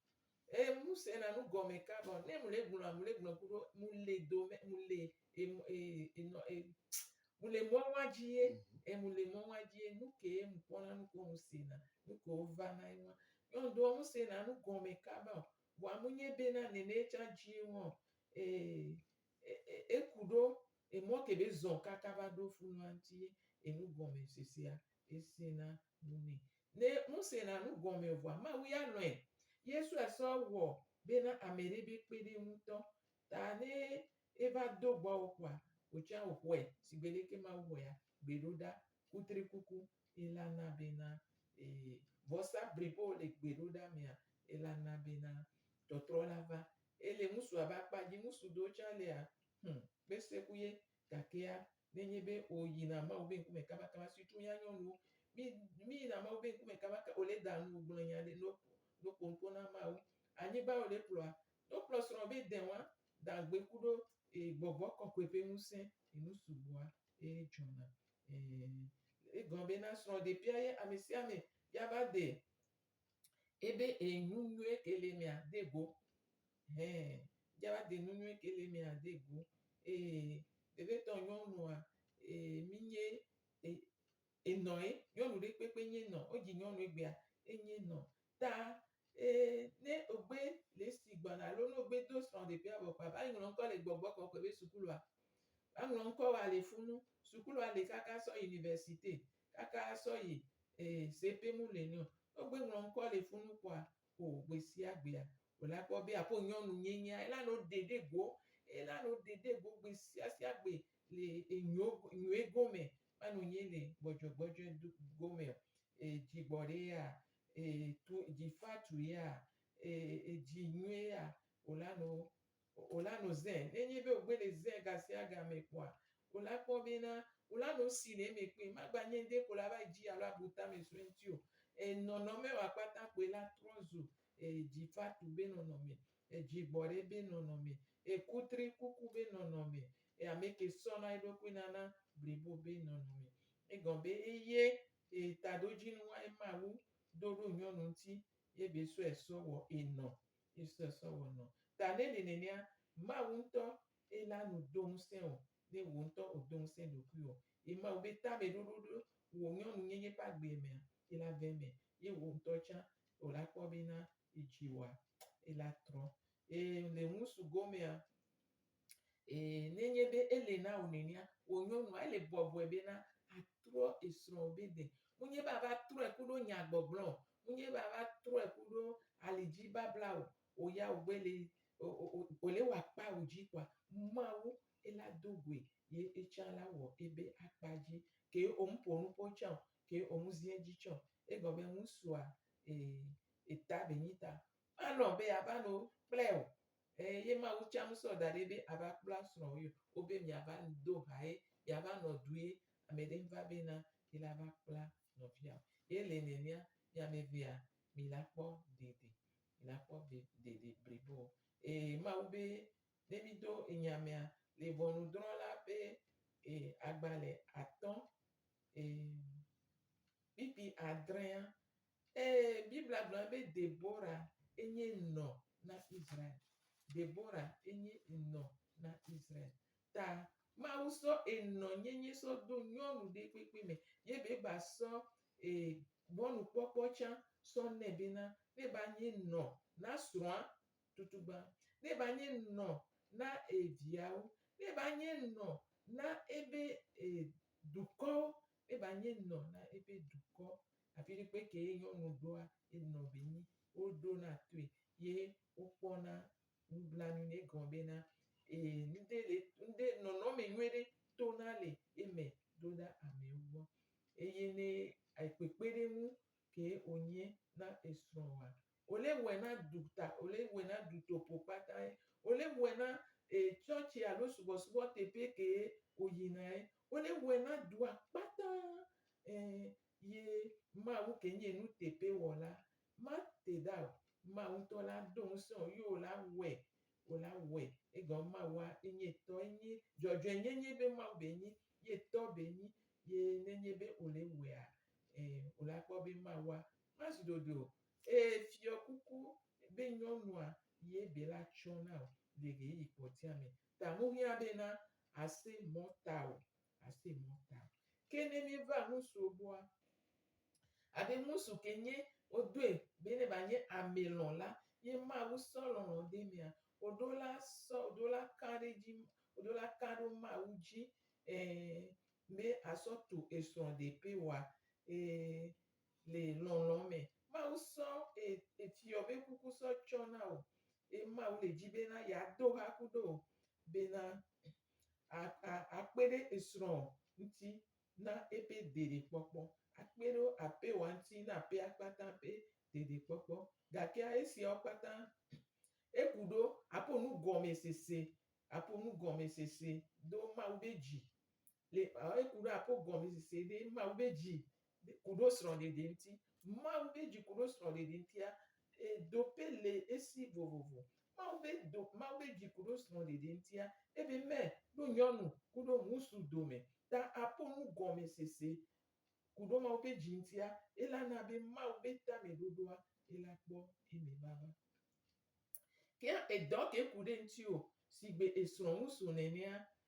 E mu se na nu gɔme kaba o. Ne mu le gblɔ a mu le gblɔ kuɖo mu le do me mu le e mu e enɔ e mu le mɔ wa dzi ye e mu le mɔ wa dzi ye nu ke mu kpɔ na nu ko mu se na nu ko va na ye wa. Nyɔnu ɖoa mu se na nu gɔme kaba o. Vɔa mu nye be na nene tsa dzi ye wa o. E eku ɖo emɔ ke be zɔn kaka va ɖo funua ŋti ye enu gɔme sesea ese na nu nɛ. Ne nu se na nu gɔme o vɔa Mawu ya lɔe. Yesu a sɔ wɔ be na ame ɖe be kpe ɖe ŋu tɔ ta ne eva do gbɔwo kɔa otsã o xɔe sigbe leke Mawu xɔea gbe ɖo ɖa kutrikuku ela na be na ee vɔsa blibowo le gbe ɖo ɖa mea ela na be na tɔtrɔ la va Ele ŋutsua be akpa dzi, ŋutsu ɖewo tsɛ le a Hm, kpese ku ye. Gakea, ne enye be ò yina Mawu be ŋkume kabakaba, surtout mía nyɔnuwo, mí, mí yina Mawu be ŋkume kabaka, ò le da nu gblɔ nya ɖe no, no ƒo nuƒo na Mawu. Anyigba ò le kplɔa, ne wo kplɔ srɔ̃wò be dɛn wa, da ŋugbe ku ɖo e gbɔgbɔ kɔkɔe ƒe ŋusẽ yi nu sugbɔa e dzɔna. Ɛɛ. Egɔme be na srɔ̃ɖeƒea ye amesiame ya va de Ebe e nunyuie ke le mea de go. Hɛn, java de nunyuie ke le mea de go. E bebe tɔ nyɔnua e mi nye e e nɔ e nyɔnu ɖe kpekpe nye nɔ o dzi nyɔnu egbea e nye nɔ. Ta e ne o gbe le si gbɔna alo no gbe do srɔ ɖe ƒea vɔ kpa va yi ŋlɔ ŋkɔ le gbɔgbɔ kɔkɔe be sukulua. A ŋlɔ ŋkɔ wa le funu. Sukulua le kaka sɔ universite. kaka asɔ yi e se pe mu le nɛ o. No gbe ŋlɔ ŋkɔ le funu kpoa o gbe sia gbea o la kpɔ be aƒo nyɔnu nye nyea ela no ɖe ɖe go ela no ɖe ɖe go gbe sia sia gbe le enyo nyoe go me ma no nye le gbɔdzɔ gbɔdzɔe do go me o e dzi gbɔ ɖe ya e tu dzi fa tu ya e edzi nyoe ya o la no Wola no zẽ. Ne nyi be ogbe le zẽ gasiaga me kpoa, wola kpɔ be na wola no si le eme kpoe. Magba nye ŋde ko la va yi dzi alo abu tame sue ŋti o. E nɔnɔme wa kpata kpoe la trɔ zu e dzifatu be nɔnɔme, e dzigbɔɖe be nɔnɔme, e kutri kuku be nɔnɔme, e ameke sɔna eɖokui nana blibo be nɔnɔme. Egɔme be eye e taɖodzinu wa ema wu do ɖo nyɔnu ŋti ye be sɔe sɔ wɔ enɔ. Yesu sɔ wɔ nɔ. Ta ne li nenea, Mawu ŋutɔ ye la nu do ŋusẽ wò, ne wò ŋutɔ ò do ŋusẽ ɖokuiwò. Ye Mawu be tame ɖoɖo ɖo wò nyɔnunyenye ƒe agbeɛ mea, ye la ve eme, ye wò ŋutɔ tsã ò la kpɔ be na ye dzi wɔa, ye la trɔ. Ye le ŋusu gomea, Ee, nenye be ele na wò nɛnɛa, wò nyɔnua, ele bɔbɔe bena atrɔ esrɔ̃wò be de. Menye be ava trɔe ku ɖo nyagbɔgblɔ o. Menye be ava trɔe ku ɖo alidzi babla o. Wò ya wò gbe le, wò le wɔ akpa wò dzi kɔa, Mawu ela do goe ye etsã la wɔ ebe akpa dzi. Ke wò me ƒo nuƒo tsã o, ke wò me zi edzi tsã o. Egɔ be ŋusua, ee, eta be nyi ta Alɔ̃ be yeava nu kple wò. Ɛɛ, ye Mawu tsã ŋusɔ da ɖi be ava kpla srɔ̃wòe o be miava do ha ye yeava nɔ due. Ame ɖe ŋva be na ye la va kpla nɔvia o. Ye le nenea, mi ame evea, mi la kpɔ dede. Mi la kpɔ be dede blibo. Ɛɛ, Mawu be ne mi do enya mea, le ʋɔnudrɔ̃la ƒe, ɛɛ, agbalẽ atɔ̃, ɛɛ, kpikpi adrẽa, Ee, Biblia gblɔna be Debora enye nɔ na Israel. Debora enye nɔ na Israel. Ta Mawu sɔ enɔnyenye sɔ do nyɔnu ɖe kpekpe me ye be ba sɔ e mɔnukpɔkpɔ tsã sɔ nɛ bena ne ba nye nɔ na srɔ̃a tutugbã, ne ba nye nɔ na e viawo, ne ba nye nɔ na ebe e dukɔwo, ne ba nye nɔ na ebe dukɔ afiɖekpe ke ye nyɔnu ɖoa ye nɔvi nyi woɖona toe ye wokpɔna nublanui nɛ egɔme be na ee ŋɖe le ŋɖe nɔnɔme nyui ɖe tona le eme ɖo ɖa amewo gbɔ eye ne kpekpeɖeŋu ke wonye na esrɔ̃wòa wole wɔe na duta wole wɔe na dutoƒo kpatae wole wɔe na e tsɔtsi alo subɔsubɔ teƒe ke woyinae wole wɔe na dua kpata e. Ye Mawu ke nye nu teƒe wɔla. Ma te ɖa o. Mawu ŋutɔ la do ŋusẽ o ye wo la wɔe. Wo la wɔe. Egɔme Mawua enye tɔ enye. Dzɔdzɔe nye nye be Mawu be nyi ye tɔ be nyi. Ye ne nye be wo le wɔea, e, wo la kpɔ be Mawua ma zu ɖoɖoe o. E, fiɔ kuku be nyɔnua ye be la tsɔ na o le ɣeyiɣi kpɔtia me. Ta mu hiã be na ase mɔ ta o. ase mɔ ta. Ke ne mi va ŋusu gbɔa, abe ŋusu ke nye wodoe be ne ba nye ame lɔ la, ye Mawu sɔ lɔlɔ de mia, woɖo la sɔ, woɖo la ka ɖe dzi, woɖo la ka ɖo Mawu dzi, ẽ, be asɔ tu esrɔ ɖepe wa, ẽ, le lɔlɔ me. Mawu sɔ e, efiɔ be kuku sɔ tsɔ na wo. Ye Mawu le dzi be na ya do ha kuɖo be na a, a, akpe ɖe esrɔ̃ ŋuti na eƒe ɖeɖekpɔkpɔ. Akpe ɖe aƒewoa ŋuti na aƒea kpata ƒe ɖeɖekpɔkpɔ. Gakea esiawo kpata, eku ɖo aƒo nu gɔmesese, aƒo nu gɔmesese do Mawu be dzi le, ɔ, eku ɖo aƒo gɔmesese ɖe Mawu be dzi kuɖo srɔ̃ɖeɖe ŋuti. Mawu ƒe dzi kuɖo srɔ̃ɖeɖe ŋutia, ɖoƒe le esi vovovo. Mawu ƒe do, Mawu ƒe dzi kuɖo srɔ̃ɖeɖe ŋutia, ebe me ɖo nyɔnu kuɖo ŋusu dome ta aƒo nu gɔme sese kuɖo Mawu ƒe dzi ŋutia, ela na be Mawu ƒe tameɖoɖoa ela kpɔ eme vava. Ke edɔ ke ku ɖe ŋutiwò sigbe esrɔ̃ ŋusu nenea,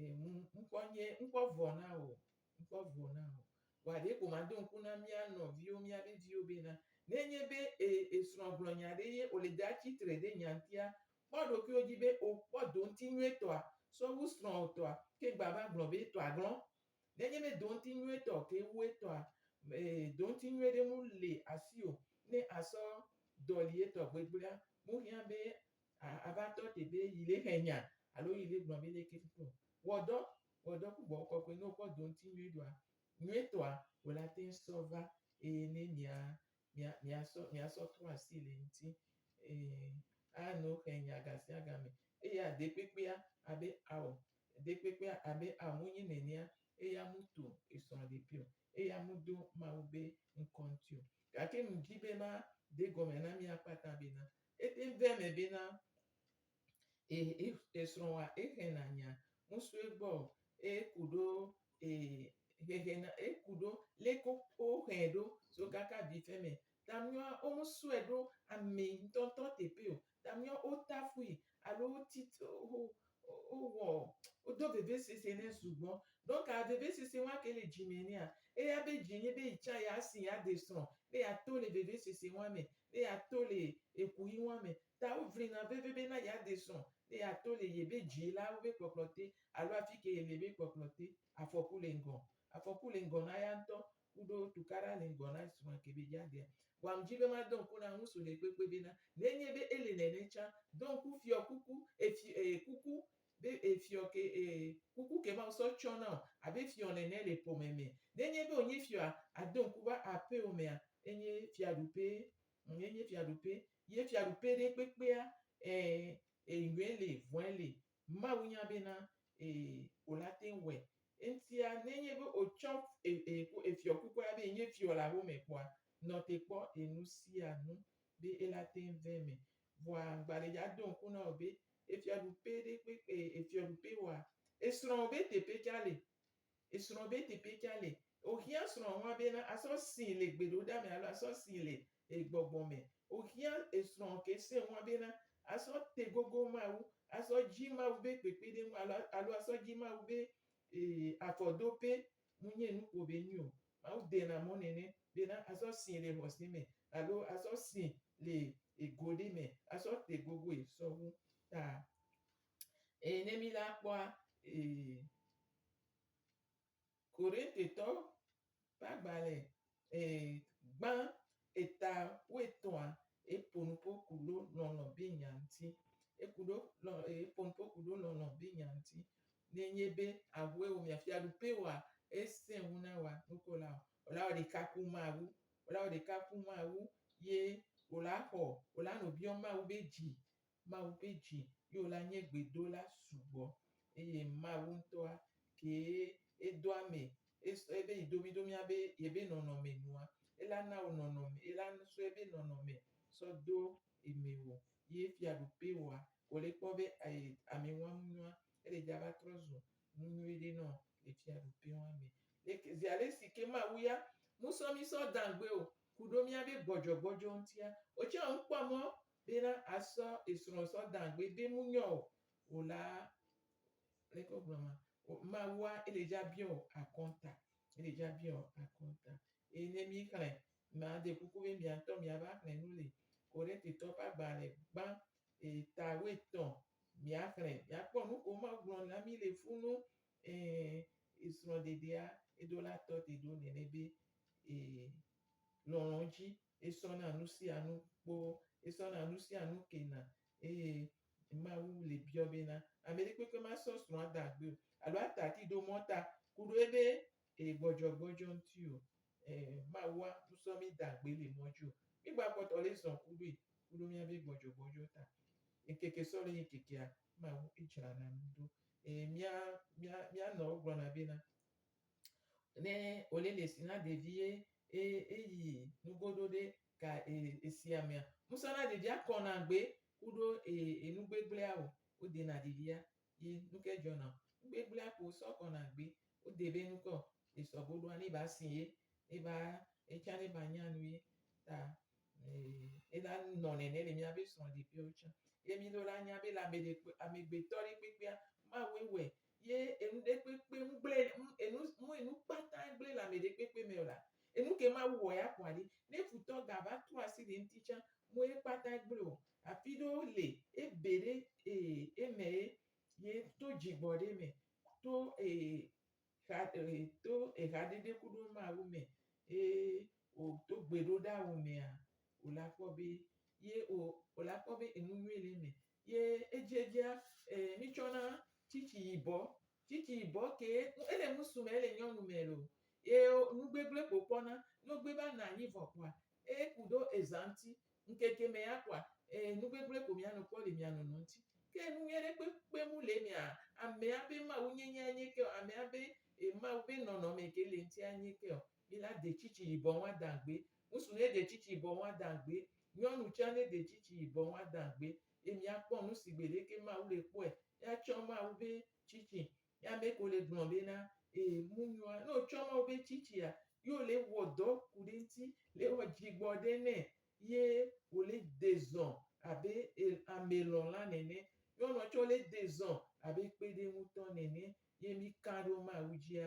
Ee, ŋkɔ nye ŋkɔ vɔ na wò, ŋkɔ vɔ na wò. Vɔa ɖe ko maɖo ŋku na mía nɔviwo, míabe viwo bena, ne enye be e, esrɔ̃ gblɔ nya ɖe ye wòle de atsi tre ɖe nya ŋutia, kpɔ ɖokuiwò dzi be wòkpɔ doŋti nyuietɔa sɔ wu srɔ̃wò tɔa ke gba va gblɔ be tɔa glɔ. Ne enye be doŋti nyuietɔ ke wu etɔa, e, doŋti nyui ɖe mu le asiwò ne àsɔ dɔli etɔ gbegblẽa, mu hiã be A ava tɔ te be yi le xe nya alo yi le gblɔ be leke fi to. Wɔ dɔ, wɔ dɔ ku gbɔgbɔ kɔkɔe ne wokpɔ do ŋuti nyuie ɖoa, nyuietɔa wòle ate ŋu sɔ va eye ne mia, mia, mia sɔ, mia sɔ trɔ asi le eŋuti. Ee, ano xe nya gasiaga me. Eya ɖekpekpea abe ao, ɖekpekpea abe ao mu nyi nenea eya mu to esrɔ̃ ɖeki o, eya mu do Mawu be ŋkɔ ŋuti o. Gake ŋdi be ma de gɔme na mia kpata be na Ete ŋu vea eme bena e esrɔ̃a ehe nanya ŋusue gbɔ o. Eku ɖo e hehe na eku ɖo le ko wohe ɖo so kaka vi fe me. Ta miɔ wo me sɔe ɖo ame ŋutɔŋutɔ teƒe o. Ta miɔ wo tafui alo wo tite wo Wowɔ, wodo vevesese nɛ sugbɔ. Donc vevesese wa ke le dzi me nɛa, eya be dzi nye be yi tsa ya si ya de srɔ̃, be ya to le vevesese wa me, be ya to le ekuxi wa me. Ta wo vlina veve be na ya de srɔ̃, be ya to le ye be dzi la wo be kpɔkplɔ te alo afike ye le be kpɔkplɔ te. Afɔku le ŋgɔ. Afɔku le ŋgɔ na ya ŋutɔ. ku ɖo tukaɖa le ŋgɔ na srɔ̃a Kebejadia. Wam dzi be madɔ ŋku na ŋusu ɖekpekpe bena nenye be ele nene tsã, do ŋku fiɔ kuku e fi e kuku be e fiɔ ke e kuku ke Mawu sɔ tsɔ na wò abe fiɔ nene le ƒome me. Nenye be wònye fiɔa, ado ŋku va aƒeo mea, enye fiaɖuƒe ŋ enye fiaɖuƒe ye fiaɖuƒe ɖekpekpea ɛ e ŋue li vɔ̃e li Mawu nya bena ee wolate ŋu wɔe. Eŋutia nenye be wotsɔ efiɔkukua be yenye fiɔ le awome kpɔa, nɔ te kpɔ ee nusianu be elate ŋu vɛ me. Vɔa ŋgbaɖedze ado ŋku na wò be efiaɖuƒe ɖe kpe ee efiɔɖuƒe wɔa, esrɔ̃wò be teƒe tsã li. Esrɔ̃wò be teƒe tsã li. Wohiã srɔ̃wò hã bena asɔ sii le gbeɖoɖa me alo asɔ sii le e gbɔgbɔ mɛ. O xia e srɔ ke se ŋwa be na a sɔ te gogo Mawu, a sɔ ji Mawu be kpekpeɖeŋu alo alo a sɔ ji Mawu be e afɔdope. Mu nye nu kpo be nyi o. Mawu dena mɔ nɛnɛ be na a sɔ si le xɔse mɛ alo a sɔ si le e go ɖe mɛ a sɔ te gogoe sɔwu ta e ne mi la kpɔa e. Korintitɔ ƒe agbalẽ ɛɛ gbã eta woetɔ̃a, eƒo nu ƒo ku ɖo lɔlɔ̃ be nya ŋuti. Eku ɖo lɔ eƒo nu ƒo ku ɖo lɔlɔ̃ be nya ŋuti. Ne enye be ahue wò mia fiaɖuƒe wɔa esẽ wu na wòa nuko la ɔ, wò la wɔ ɖeka ku Mawu. Wò la wɔ ɖeka ku Mawu ye wò la xɔ wò la nɔviɔ Mawu be dzi Mawu ƒe dzi ye wòle anye gbedola sugbɔ eye Mawu ŋutɔa kee edo ame ebe yi domi ɖo mía be yebe nɔnɔme nua, ela na wò nɔnɔme, ela sɔ ebe nɔnɔme sɔ do eme wò ye fiaɖuƒe wòa ko le kpɔ be ayi ame ŋua ŋu nua ele dza va trɔ zu nu nyui ɖe nɔ le fiaɖuƒe wa me. Leke zi alesi ke Mawu ya ŋusɔ mí sɔ dã gbe o kuɖo mía be gbɔdzɔgbɔdzɔ ŋutia, wò tsɛ ŋkpɔ mɔ bena asɔ esrɔ̃ sɔ dan gbe be mu nyɔ o o la, leke wo gblɔ ma, Mawua ele dzi abiɔ wò akɔnta, ele dzi abiɔ wò akɔnta. Eye ne mi xlẽ, ma de kuku be mia ŋutɔ mia va xlẽ nu li. Korinte tɔwo ƒe agbalẽ gbã eta woetɔ̃, mia xlẽ, mia kpɔ nu ko Mawu gblɔ na mi le fu nu, ẽ, esrɔ̃ ɖeɖea eɖolatɔ te ɖo nene be, e, lɔlɔ̃ dzi esɔna nu sia nu kpɔ, esɔna nu sia nu kena eye Mawu le biɔ bena, Ameɖekpekpe masɔ srɔ̃ ada agbee o alo ata ati ɖo mɔ ta ku ɖo ebe e gbɔdzɔgbɔdzɔ ŋuti o. Ẽ, Mawu a nu sɔ mí da agbe le mɔ ji o. Mí gba kpɔtɔ le zɔn ku ɖoe ku ɖo míabe gbɔdzɔgbɔdzɔ ta. Ŋkeke sɔ le yi ŋkekea, Mawu e dzrana nu ɖo. Ẽ, mía, mía, mía nɔwo gblɔna bena, Ne wòle le si na ɖevie eye eyi nugo ɖo ɖe ka esia mea, ŋusẽ na ɖevia kɔna gbe ku ɖo eye nu gbegblẽa o, wodena ɖevia ye nuke dzɔna o. Nu gbegblẽa ko wosɔ kɔna gbe, wode be nukɔ esɔ go ɖoa, ne va si ye, ne va etsã ne va nya nu ye ta ena nunɔ nene le mía be srɔ̃ɖeƒeawo tsã. Ye mí ɖo la nya be le ameɖe, amegbetɔ ɖe kpekpea, Mawue wɔe Ye enu ɖekpekpe ŋgblẽ, enu, mu enu kpata gblẽ le amɛ ɖekpekpe mɛ o la, enu ke Mawu wɔ ya kpɔa ɖi. Ne futɔ ga va tro asi ɖe ŋti tsã, mu ye kpata gblẽ o. Afi ɖewo le, e be ɖe e, e mɛ ye, ye to djigbɔ ɖe mɛ, to e, xa, e, to exa ɖeɖe kuɖo Mawu mɛ, e o to gbeɖoɖa wo mɛa, o la kpɔ be, ye o, o la kpɔ be enu nyui le mɛ. Ye edziedzia, ee, mí tsɔ na tsitsi yibɔ. Tsitsi yibɔ kee, ele ŋusu me, ele nyɔnu me loo. Ye nu gbegble ko kpɔna. Ne wo gbe va na anyi vɔ kpoa, eye ku ɖo eza ŋuti, ŋkeke me ya kpoa, ee, nu gbegble ko mía nɔ kpɔ le mía nɔnɔ ŋuti. Ke nu nyui ɖe kpekpe mu le emea, amea be Mawu nyenye anye ke o, amea be, e, Mawu be nɔnɔme ke le eŋuti anye ke o. Mi la de tsitsi yibɔ ŋa dan gbé, ŋusu nɛ de tsitsi yibɔ ŋa dan gbé, nyɔnu tsan nɛ de tsitsi yibɔ ŋa dan gbé, ye mi a kpɔ nu si gbeɖéké Mawu le kpɔɛ. Mi a tsɔ Mawu bé tsitsi. Ye amɛ ko le gblɔ bé na, e, ŋu nyoa, ne o tsɔ Mawu bé tsitsia, yi o le wɔ dɔ ku ɖé ŋti, le wɔ djigbɔ ɖé nɛ, ye o le de zɔn abé e, amɛ lɔnla nɛnɛ. Nyɔnua tsan o le de zɔn abé kpéɖéŋutɔ nɛnɛ. Ye mi kan ɖo Mawu djia,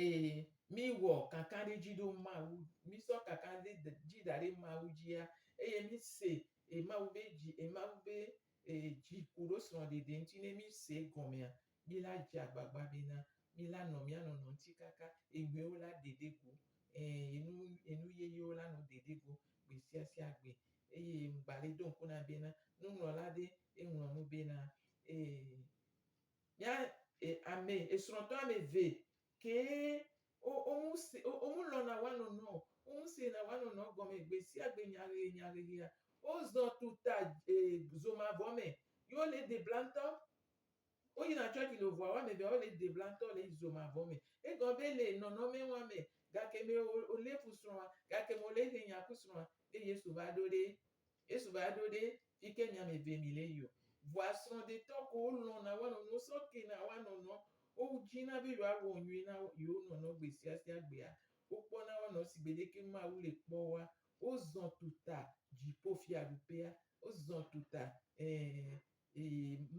Eye míwɔ kakaɖedzi ɖo Mawu ŋu. Mísɔ kakaɖedzi da ɖe Mawu dzia eye míse e Mawu be dzi e Mawu be e dzi koɖo srɔ̃ɖeɖe ŋuti ne míse egɔmea, míla dze agbagba bena míla nɔ mía nɔnɔ ŋuti kaka eŋuiwo la ɖeɖe go. Ẽ, enu enu yeyewo la nɔ ɖeɖe go gbesiasia gbe. Eye ŋgba le do ŋku nam bena nuŋlɔla ɖe eŋlɔ nu bena e. Ya e ame esrɔtɔ ame eve kee wo womu se wo womu lɔna wanɔnɔ o. Womu sena wanɔnɔ gɔme gbesiagbe nyahehe nyahehea. Wozɔ tu ta e zo mavɔ me yi wo le de bla ŋtɔ. Wo yina tsɔtsi lo vɔa woame evea wo le de bla ŋtɔ le zo mavɔ me. Egɔ be le nɔnɔme wa me gake me o o le ƒu srɔa gake me o le he nya ku srɔa be Yesu va ɖo ɖe Yesu va ɖo ɖe fike nya me ve mi le yio. Vɔa srɔdetɔ ko wo lɔn na wanɔ nuwo sɔ ke na wa nɔnɔ. Wo ji na be yɔa wɔ nyui na yio nɔnɔ gbe sia sia gbea. Wo kpɔ na wa nɔ sigbe ɖeke Mawu le kpɔ wa. Wo zɔn tuta dzipo fiaɖuƒea. Wo zɔn tuta eeee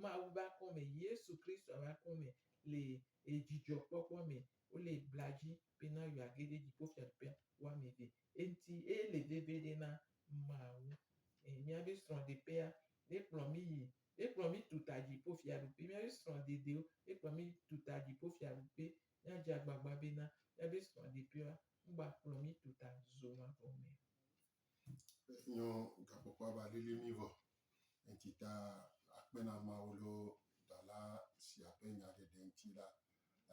Mawu ba kɔme, Yesu Kristo ba kɔme le ejijɔ kpɔkpɔ me. Wo le bladji. bena yeage ɖe dziƒofiaɖuƒea wame ɖi. Eŋti eye ele veviɖe na Mawu. E, míabe srɔ̃ɖeƒea, ekplɔ mí yi, ekplɔ mí tu ta dziƒofiaɖuƒe. Míabe srɔ̃ɖeɖewo, ekplɔ mí tu ta dziƒofiaɖuƒe. Míadze agbagba bena míabe srɔ̃ɖeƒewoa, ŋgba kplɔ mí tu ta zomavɔ me o. Nyo gakpɔkpɔ ava lili mí vɔ. Eŋti ta akpe na Mawu lɔ dala sia ƒe nya ɖeɖe ŋti la,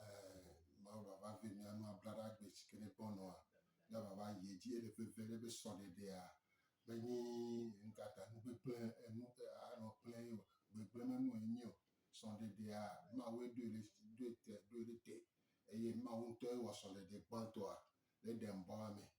eh, Mawu vava ve mía nu ablaɖa gbe si ke ne gbɔnɔa, mía vava yi edzi ele veve ɖe be sɔɖeɖea menyi ŋkata nu gbegble enu anɔ kple ye o. Gbegble me nu enyi o. Sɔɖeɖea Mawue ɖoe ɖe ɖoe te ɖoe ɖe te eye Mawu ŋutɔe wɔ sɔɖeɖe gbãtɔa le Edɛn bɔa me.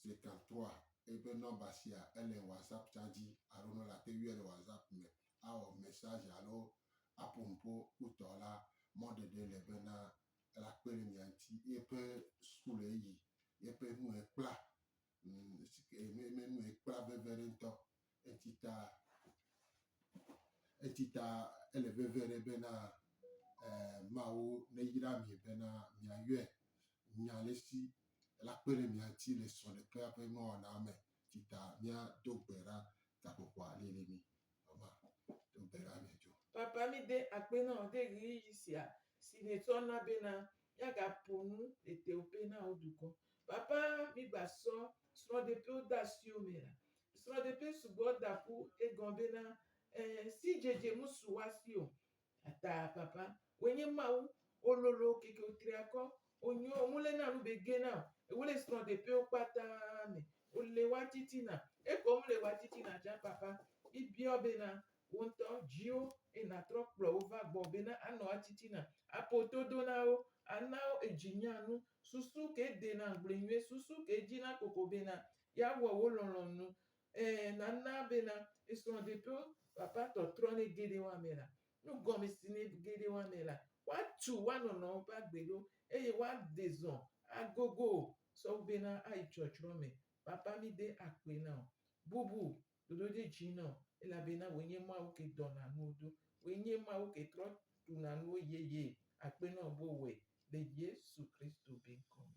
Seka tɔa eƒe nɔmba sia ele WhatsApp tsa dzi alo ne wole ate yɔe le WhatsApp me awɔ message alo aƒo nu ƒo kpotɔ la, mɔɖeɖe le bena ela kpe ɖe mia ŋuti. Eƒe school eyi, eƒe nu ekpla, enu ekpla veve ɖe ŋutɔ. Eti ta, eti ta ele veve ɖe bena e, Mawu neyra mi bena miayɔe nya le si la kpe ɖe mia ŋuti le srɔ̃ ɖekea ƒe nuwɔna me. Eti ta míado gbe ɖa gaƒoƒoa lili mí. Mama, do gbe ɖa mí dzo. Papa, míde akpe na wò ɖe ɣeyiɣi sia si nètsɔ na bena míagaƒo nu le teoƒe na wò dukɔ. Papa, mígbasɔ srɔ̃ɖeƒewo de asiwò me la, Srɔɖeƒe sugbɔ da ƒu egɔn bena e si djedje mu su wa si o. Ata papa we nye Mawu o lolo keke o tri akɔ o nyo o mu le na nu be gena o. Ewe le srɔɖeƒe wo kpata me o le wa titina. Ekɔ mu le wa titina can papa mi biɔ bena wo ŋtɔ djiwo e na trɔ kplɔ wo va gbɔ bena a nɔ wa titina a po to do na wo a na wo edji nya nu susu ke de na ŋgble nyuie susu ke dji na koko bena Yeawɔ wo lɔlɔ̃nu. Ẽ, nana bena esrɔ̃ɖeɖe vavãtɔ trɔnɛ geɖe wɔamɛ la, nugɔmesini geɖe wɔamɛ la, woatu woanɔnɔwo ƒe agbe ɖo eye woade zɔ agogo sɔwu bena ayi tsɔtsrɔ̃ me. Papa mí de akpoe na wò. Bubu ɖoɖo ɖe dzi na wò, elabena wòe nye Mawu ke dɔna nuwo ɖo. Wòe nye Mawu ke trɔ ɖuna nuwo yeye akpe na wò be wòwɔe le Yesu Kristo be ŋkɔ me.